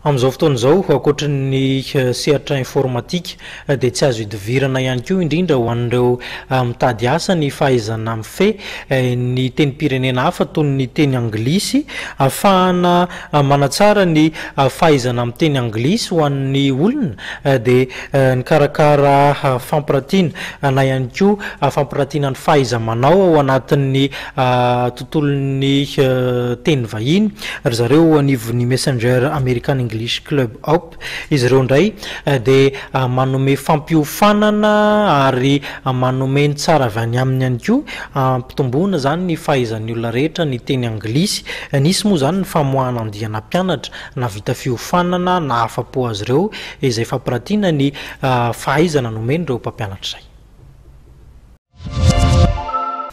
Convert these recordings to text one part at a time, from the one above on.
Amin'izao fotoana izao, ankoatry ny sehatra informatika, dia tsy azo idivirana ihany koa, indrindra ho an'ireo mitady asa, ny fahaizana mifehy ny tenim-pirenena hafa toy ny teny anglisy. Ahafahana manatsara ny fahaizana miteny anglisy ho an'ny olona dia nikarakara fampirantiana na ihany koa fampirantiana ny fahaiza-manao ao anatin'ny tontolon'ny teny vahiny ry zareo anivon'ny Messenger American English Club App. Izy ireo indray dia manome fampiofanana ary manome ny tsara avy any aminy ihany koa hampitomboana izany ny fahaizan'ny olona rehetra ny teny anglisy. Nisy moa izany ny famoahana andiana mpianatra nahavita fiofanana nahafa-po azy ireo izay fampiratiana ny fahaizana nomen'ireo mpampianatra izay.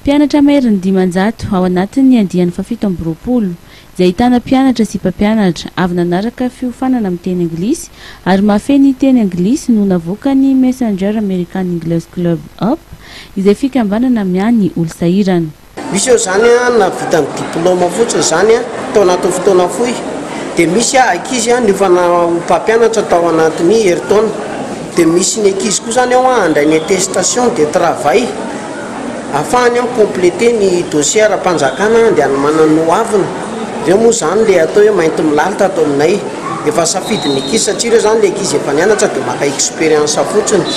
Mpianatra maherin'ny dimanjato ao anatin'ny andiany fahafito amby roapolo, izay ahitana mpianatra sy mpampianatra, avy nanaraka fiofanana amin'ny teny anglisy ary mahafehy ny teny anglisy no navoakan'ny Messenger American English Club Up, izay fikambanana miahy ny olosahirana. Misy eo izany na vita ny diplaoma fotsiny izany tao anatin'ny fotoana fohy dia misy ankizy niofana ho mpampianatra tao anatin'ny herintaona dia misy ny ankizy koa izany ao handray ny attestation de travail afahany mi completer ny dossier ara-panjakana handeha hanomanany ny hoaviny, ireo moa izany ilay atao hoe mainty milalitra ato aminay, efa safidin'ny ankizy satria ireo izany ilay ankizy efa nianatra dia maka expérience fotsiny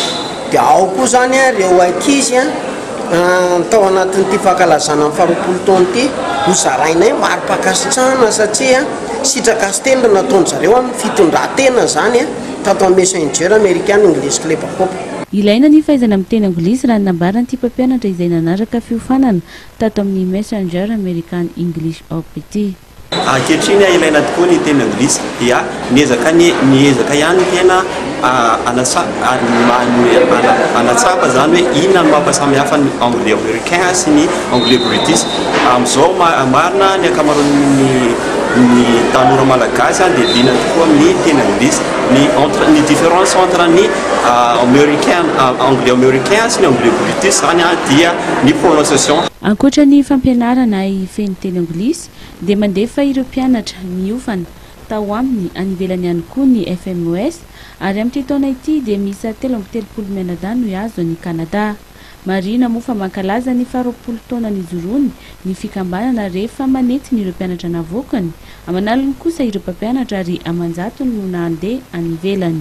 dia ao koa izany ireo ankizy Tao anatin'ity fankalazana ny faharoapolo taona ity, hozarainay mari-pankasitrahana satria sitraka sy tendro no nataon-dry zareo amin'ny fitondran-tena izany tato amin'ny Messenger American English Club Coop. Ilaina ny fahaizana miteny anglisy raha ny nambaran'ity mpampianatra izay nanaraka fiofanana tato amin'ny Messenger American English Coop ity. Ankehitriny ilaina tokoa ny teny anglisy dia miezaka ny miezaka ihany ny tena hanatsapa izany hoe inona no mampasamihafa ny anglais americain sy ny anglais british. Amin'izao marina ny ankamaroan'ny ny tanora malagasy dia liana tokoa amin'ny teny anglisy. Ny entre ny différence entre ny americain anglais americain sy ny anglais british izany dia ny prononciation. Ankoatra ny fampianarana feno teny anglisy dia mandefa ireo mpianatra niofana tao aminy any ivelany ihany koa ny FMOS ary amin'ity taona ity dia miisa telo amby telopolo mianadahy no hihazo an'i Kanada. Marihina moa fa mankalaza ny faharoapolo taona nijoroany ny fikambanana rehefa manentiny ireo mpianatra navoakany aman'aliny kosa ireo mpampianatra ary aman-jatony no nandeha any ivelany.